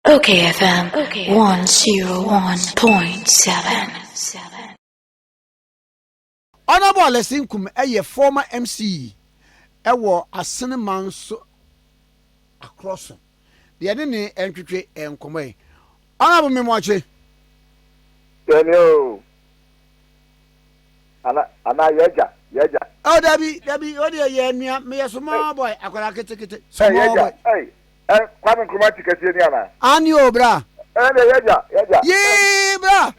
Okay FM 101.7. Honourable Alesi Nkum yɛ former MC wɔ Asene man so akorɔ so deɛ yɛne ne ntwetwe nkɔmmɔ yi. Honourable Memoakye. Daniel. Ana ana yɛgya yɛgya. Oh dabi dabi o deɛ yɛ nua meyɛ small boy akwadaa ketekete small boy. Ɛy ɛy Kwame Nkrumah ti kɛseɛ ni ana. Ani o bra. Ɛn deɛ yɛgya yɛgya. Yii bra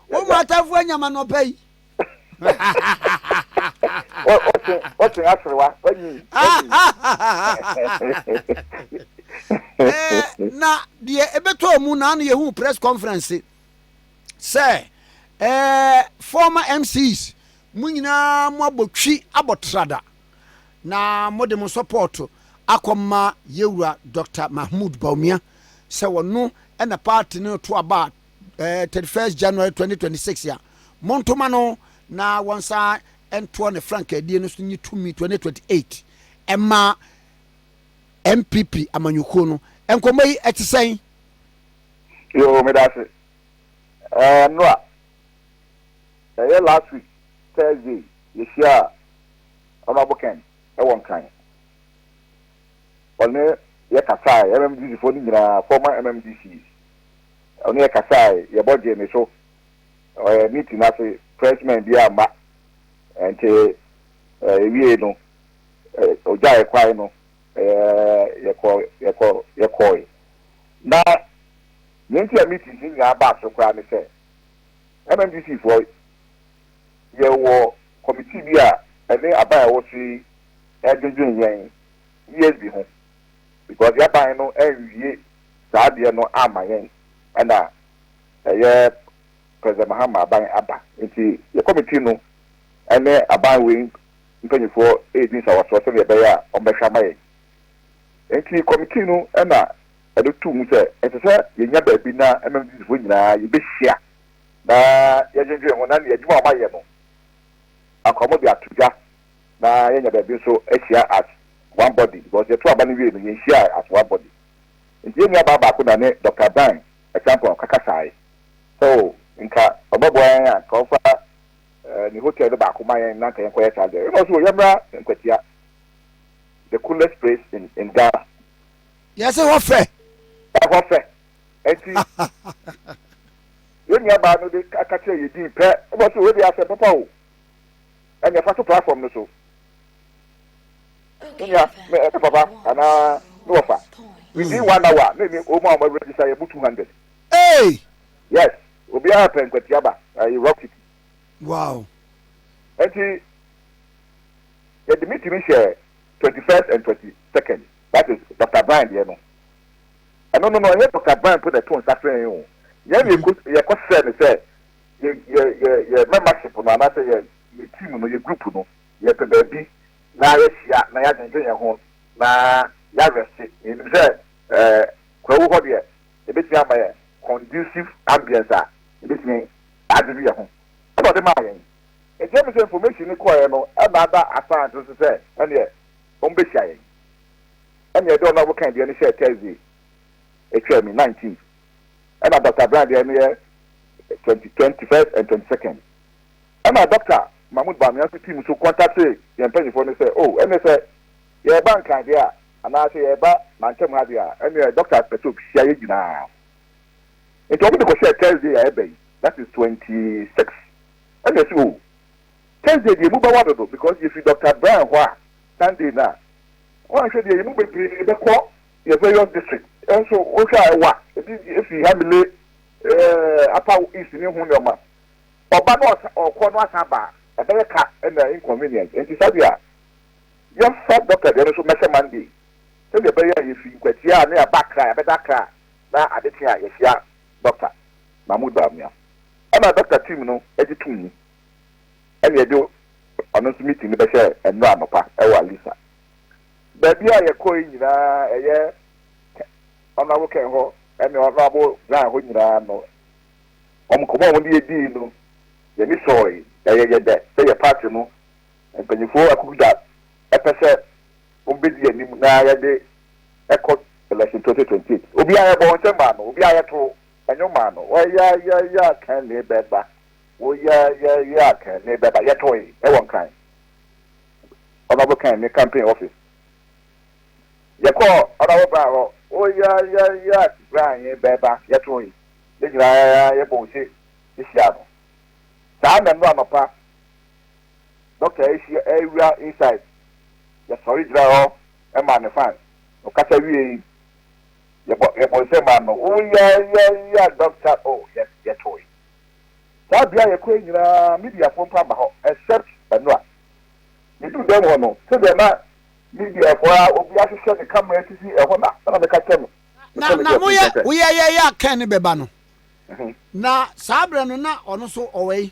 wo ma atamfoɔ anya ma nɔpa yi. Ɔsen ɔsen aserewa wanyi. Na deɛ ebɛtɔ mu na ano yɛ hu press conference. sɛ ɛɛ former MCs mo nyinaa mo abɔ twi abɔ trada na mo de mo support akɔ ma yɛwura Doctor Mahmood Bawumia sɛ wɔno ɛna party no to aba ɛɛ 31st January 2026 a monto ma no na wɔn san ɛntoɔ ne frankaadie no so nye tumi 2028 ɛma NPP amanyɔkuo no nkɔmɔ yi ɛte sɛn? Yoo medase ɛɛ nora ɛyɛ last week Thursday yɛhyiaa Honourable Ken ɛwɔ nkran ɔne yɛ kasae MMDC foɔ no nyinaa former MMDC ɔne yɛ kasae yɛbɔ gyee ne so ɛɛ meeting no ase press men bi amma ɛnti ɛwie no ɔgya yɛ kwan no ɛɛ yɛkɔ yɛkɔ yɛkɔe. Na nea nti a meeting he nyaa baa so koraa ne sɛ, MMDCfoɔ yɛwɔ kɔmitii bi a ɛne aban a ɛwɔ so yi redwendwen yɛn ESB ho because y'aban no anwie saa adeɛ no amma yɛn ɛna ɛyɛ President Mahama aban aba nti yɛ kɔmitii no ɛne aban wei mpanyinfoɔ redi nsawasoɔ sɛdeɛ ɛbɛyɛ a wɔbɛhwɛ ama yɛn. Enti kɔmitii no na ɛde too mu sɛ ɛsɛ sɛ yenya baabi na Methodistfo nyinaa yebehyia na yɛadwennwen ho na nea adwuma a wɔayɛ no akora mu de ato dwa na yɛanya baabi nso ahyia as one body because yɛtoo aba no wiei no yenhyiae as one body. Enti yɛn nuabaa baako na ne Dɔkta Dan Acheampong kakasae sɛ oh, nka ɔbɛboa yɛn a nka ɔmfa ne hotel no baako ma yɛn na nka yɛnkɔyɛ saa adeɛ no. Ɛnna ɔse oh, yɛmmra Nkwatia. the coolest place in in Ghana. Yɛsɛ hɔ fɛ. Ɛhɔ fɛ. Eti yɛn nuabaa no de aka kyerɛ yɛ din pɛ ɛbɔ so wɔde asɛm papa o. Ɛna ɛfa so platform no so. Me nua me ɛne papa anaa ne wɔfa. Within one hour me ne wɔn a wɔn register yɛ bu two hundred. Hey. Yes obiara pɛ nkwatiaba ɛyɛ rock city. Wow. Eti. Yɛde me tumi hyɛɛ twenty first and twenty second that is Doctor Brian deɛ no. Ɛno no no ɛnyɛ Doctor Brian mpo na ɛto nsa frɛ yɛn o. Yɛn na yɛkɔ yɛkɔ srɛ no sɛ yɛ yɛ yɛ yɛ membership no anaasɛ yɛ yɛ team no yɛ group no yɛpɛ baabi na yɛahyia na yɛadwendwen yɛn ho na yɛarɛste. Yɛnim sɛ ɛɛ kwawu hɔ deɛ ɛbɛtumi ama yɛn conducive ambience a ɛbɛtumi adwedwe yɛn ho ɛna ɔde maa yɛn. Ɛteɛ me sɛ information no kɔeɛ no ɛdaada Assange nso sɛ ɛneɛ ɔmbɛhyia yɛn. Ɛneɛ deɛ ɔnoara bɔkae deɛ no hyɛɛ Thursday ɛtwaa mu, nineteenth, ɛna Doctor Brown deɛ no yɛ twenty, twenty first and twenty second. Ɛna Doctor Mahmoud Bawumia nso team nso contactee yɛn mpanyinfoɔ no sɛ oh ɛneɛ sɛ yɛreba Nkran deɛ a anaa sɛ yɛreba Mantam ha deɛ a ɛneɛ Doctor pɛsɛ ɔbɛhyia yɛn nyinaa. Nti wɔn de kɔhyɛɛ Thursday a ɛba yi, that is twenty six. ɛna ɛsɛ oo Thursday deɛ emu bɛwa dodo because yɛfiri Doctor Brian hɔ a Sunday no a woanhwɛ deɛ yɛmu bebree bɛkɔ yɛ various district nso wohwɛ a ɛwa ebi firi Hamile eh, Upper East ne ho nneɛma ɔba na ɔkɔ no asan ba a ɛbɛyɛ ka ɛna inconvenient nti saa deɛ a yɛmfa Doctor deɛ no so mɛhyɛ Monday sɛdeɛ ɛbɛyɛ a yɛfiri nkwatia a ne yɛaba Accra yɛbɛda Accra na adekye a yɛhyia Dɔkta Mahmoud Bawumia na dɔkta team no gye toom yi na yɛde ɔno nso meeting no bɛhyɛɛ ɛnnora anɔpa wɔ Alisa. Baabi a yɛkɔɔe nyinaa ɛyɛ Honourable Ken hɔ ne Honourable Zhang hɔ nyinaa no, wɔn nkɔmmɔ a wɔn de yɛdii no, yɛani sɔɔe na yɛyɛ dɛ sɛ yɛ party no mpanyinfoɔ akukuda pɛ sɛ Wɔbɛdi anim na yɛde kɔ Election 2028. Obi a yɛbɔɔ nsɛm maa no, obi a yɛtoo nnwom maa no, wɔ ya ya ya Kane bɛba, wɔ ya ya ya Kane bɛba, yɛtoe wɔ Nkran Honourable Kane ne campaign office. Yɛkɔɔ Honourable Bryan hɔ, wɔ ya ya ya Bryan bɛba, yɛtoe. Yɛn nyinaa yɛbɔ ose hyiaa no. Saa nna no anɔpa. Doctor Asia Awira Insight yɛ sɔre gyina hɔ ma ne fans. Ɔkasa wiei yɛbɔ yɛbɔ nsam maa no oh yayaya doctor oh yɛ yɛtoe. Saa bea yɛkɔ yi nyinaa mediafoɔ mpo amma hɔ except Banua. Yɛduu dɛm hɔ no sɛdeɛ na mediafoɔ a obi ahwehwɛ ne camera atifi ɛhɔ na na meka kyerɛ no Na na moyɛ woyɛyɛyɛ a Ken bɛba no na saa berɛ no na ɔno nso ɔwɔ yi.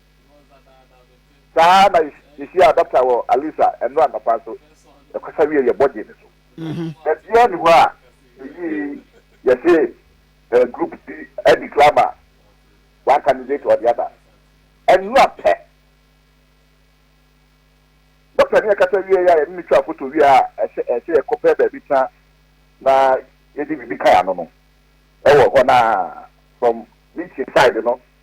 Saa na yehyiaa dɔkta wɔ Alisa ɛno anɔpa nso. Yɛkasa wiee yɛ bɔdee no so. Baabiara nni hɔ a meyii yɛse group bi adi clamor one candidate or the other. Ɛno a pɛ dɔkta ne yɛ kasa wieeɛ a yɛne no twaa foto wie a ɛsɛ yɛkɔ pɛ baabi tena na yɛde biribi kae ano no ɛwɔ hɔ na from meeting side no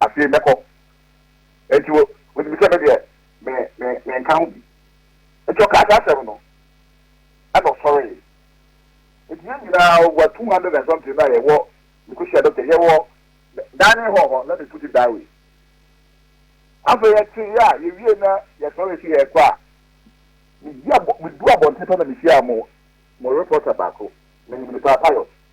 Afei mɛkɔ. Enti wo, wonim sɛ me deɛ, me, me, menka ho bi. Enti ɔkaa saa asɛm no, ɛna ɔsɔree. Enti yɛn nyinaa, over two hundred and something no a yɛwɔ, mekɔhyia doctor, yɛwɔ dining hall hɔ, let me put it that way. Afei yɛteeɛ a, yɛwiee na yɛsɔree sɛ yɛrekɔ a, medi abɔ, medu abɔnten pɛ na mehyiaa mo, mo reporter baako, menim no paa, Pius.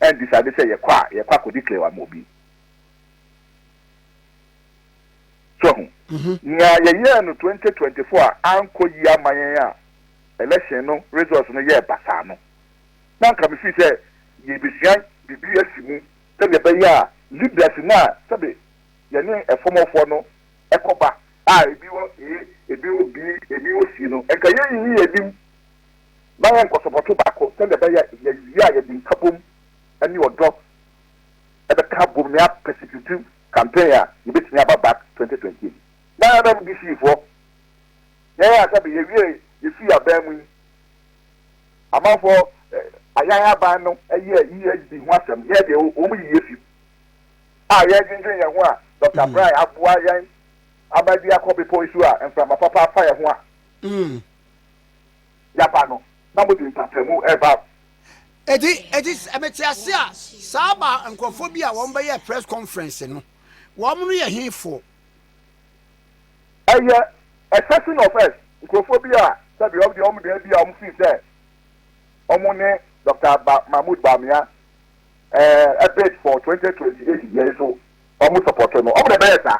Ɛntisade sɛ yɛkɔ a yɛkɔ akɔdeclare ama obi. So wahu? Nea yɛyɛɛ no twenty twenty four a ankɔ yie amma yɛn a election no results no yɛɛ basaa no, na anka mefii sɛ yɛrebesua biribi afi mu sɛdeɛ ɛbɛyɛ a leaders no a sɛbe yɛne ɛfɔmɔfoɔ no ɛkɔba a ebi wɔ A, ebi wɔ B, ebi wɔ C no nka yɛnyiyi yɛn anim. na wɔnkɔ sɔbɔto baako sɛnea ɛbɛyɛ a yɛawie a yɛde nkabom ne ɔdɔ bɛka abom na yɛapɛ sikiriti campaign a yebetumi aba back twenty twenty eight. Na MMDC foɔ, yɛn a sɛbe yɛwie yɛfii aban mu yi, amanfoɔ ayan aban no yɛɛ EHB ho asɛm, yɛn deɛ wɔn yiyi afi mu a yɛredwendwen yɛn ho a Dɔkta Brian aboa yɛn ama bi akɔ bepɔ yi so a mframa papa afa yɛn ho a. yaba no na mode mpatamu reba. Enti, enti sɛ mete ase a, saa ba nkurɔfoɔ bi a wɔbɛyɛɛ press conference no, wɔn no yɛ hefoɔ? Ɛyɛ a section of us, nkurɔfoɔ bi a sɛdeɛ wɔn deɛ wɔn deɛ bi a wɔfiri sɛ wɔn ne Doctor Ba Mahmood Bawumia ɛɛ bid for twenty twenty eight deɛ nso wɔn sɔpɔto no, wɔn na ɛbɛyɛ saa.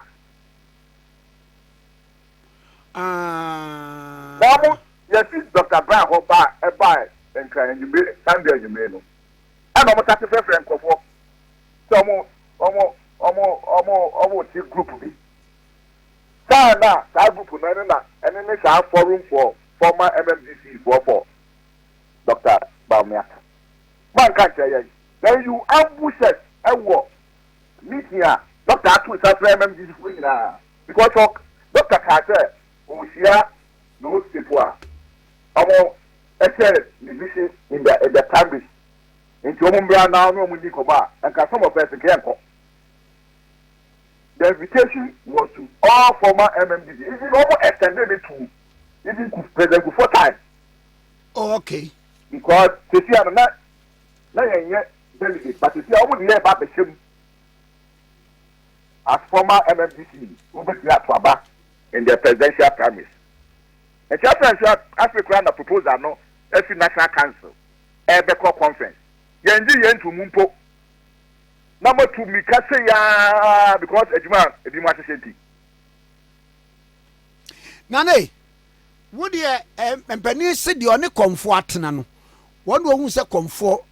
Aah. Wɔn yɛsi Dɔkta Brown hɔ baa ɛbaa Nkran anwummere Sunday anwummere no ɛna wɔn sase frɛfrɛ nkorɔfoɔ sɛ wɔn wɔn wɔn wɔn wɔn rete group bi saa na saa group no ɛne na ɛne ne saa forum for former MMDC foɔ for Dɔkta Bawumia ka wɔn anka nkyerɛ yɛn then you ambush us ɛwɔ meeting a Dɔkta ato nsa frɛ MMDC foɔ nyinaa Mpɔtorɔ, dɔkta kaa sɛ ɔrehyia those people a wɔhyɛ ne vision in the in the primaries nti wɔn mmra na ɔne wɔn nni nkɔmmɔ a nka some of us nka yɛnkɔ. The invitation was to all former MMDB even wɔn extended it to even Kuf- President Kufuor time Oh, okay. because sisi a no na na yɛnyɛ delegate but sisi a wɔn de yɛ ba abɛhyɛ mu. As former MMDC wobetumi ato aba in the presidential primaries. Ɛkyerɛ sɛ nso afei koraa na proposal no afi National Council ɛrebɛkɔ conference. Yɛngye yei nto mu mpo na moatu mmirika sei ara because adwuma a ebinom ahyehyɛ nti. Nane, wo deɛ eh, mpanin se deɛ ɔne kɔmfoɔ atena no, wɔn na wɔhu sɛ kɔmfoɔ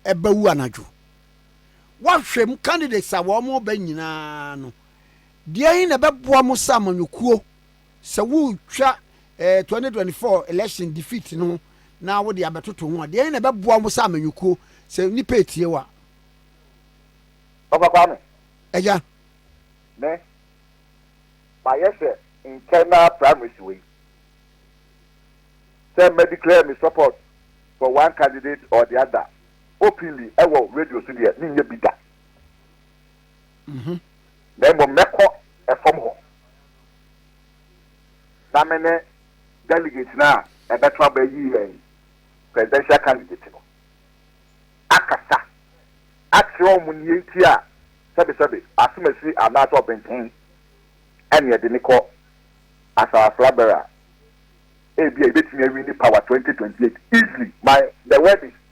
ɛbɛwu anadwo. Woahwɛ mu candidates a wɔreba nyinaa no, deɛn na ɛbɛboa mo sɛ amanyɔkuo sɛ woretwa eh, 2024 election defeat no na wode abɛtoto ho a, deɛn na ɛbɛboa mo sɛ amanyɔkuo sɛ nnipa etie wo a? Papa Kwame. Agya. Me, mayɛ sɛ internal primaries wei, sɛ mɛ declare me support for one candidate or the other. Openly wɔ radio so deɛ menyɛ bi da. Na mmom mɛkɔ fam hɔ na me ne delegate no a ɛbɛto aba yi yɛn presidential candidate no akasa akyerɛ wɔn nea enti a sɛbesɛbe asomasi anaasɛ ɔbenten ɛne ɛde ne kɔ asawasra bɛrɛ a ebia ebetumi awi ne power 2028 easily. My the word is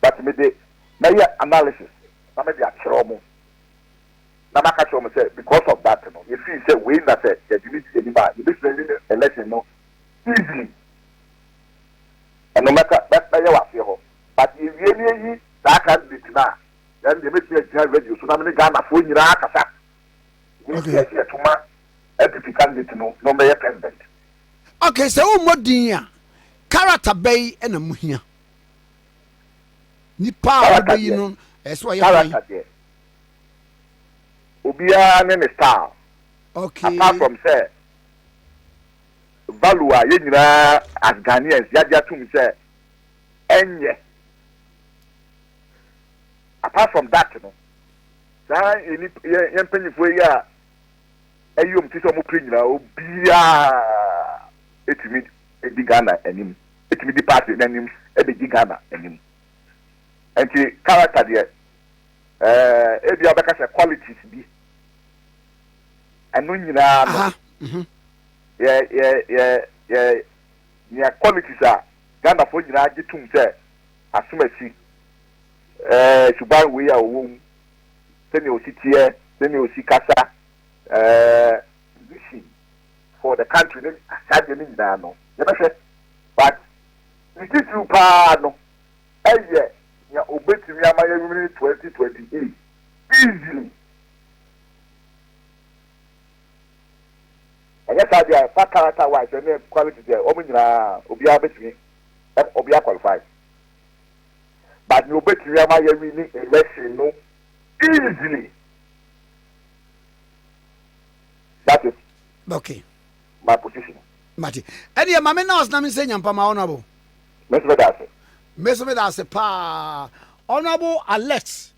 but me de mɛyɛ analysis na me de akyerɛ ɔmo na maka kyerɛ ɔmo sɛ because of that no yɛ feel sɛ wei na sɛ yɛde no di anim a yɛbɛtumi awin election no easily ɛno mɛka mɛyɛ wɔ aseɛ hɔ but yɛ wie ne ayi saa candidate no a then deɛ mɛtumi agyina radio so na mene Ghanafoɔ nyinaa kasa ne Okay. yɛ yɛ toma APP candidate no na ɔmbɛyɛ president. okay sɛ wommɔ din a character bɛyi na mohia nipa a wɔbɛyi no ɛsɛ ɔyɛ hwan. obiara ne ne style okay. apart from sɛ value a yɛn nyinaa as Ghanaians yɛagye atum sɛ ɛnyɛ apart from that no saa yɛn mpanyinfoɔ yi a ɛyɛ wɔn ti sɛ wɔn pere nyinaa obiara etumi di Ghana anim. bɛtumi di party no anim de gye Ghana anim. Ɛnti character deɛ ɛɛ ebia wobɛka sɛ qualities bi ɛno nyinaa no mhm. yɛ yɛ yɛ yɛ nea qualities a Ghanafoɔ nyinaa gye tum sɛ asomasi ɛɛ suban wei a ɔwɔ mu sɛnea ɔsi teɛ sɛnea ɔsi kasa ɛɛ vision for the country ne saa adeɛ no nyinaa no yɛbɛhwɛ but ne titiriw paa no ɛyɛ nea ɔbɛtumi ama yɛnwene twenty twenty eight easily ɛnyɛ saa deɛ ɛfa character wise ɛne quality deɛ wɔn nyinaa obiara bɛtumi ɛm obiara qualify but nea ɔbɛtumi ama yɛnwene election no easily. That is okay. my position. Mate. Ɛni yɛ maame nurse na mi nsɛ nyampa ma honourable. Mɛsi bɛ da ase. Mɛsi bɛ da ase paa. Honourable Alex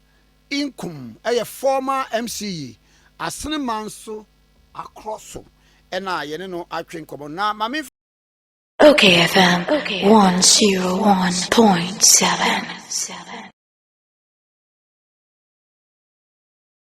Inkum ɛyɛ former MCE Asene Manso akorɔ so ɛna yɛne no atwe nkɔmɔ na maame. Okay FM one zero one point seven.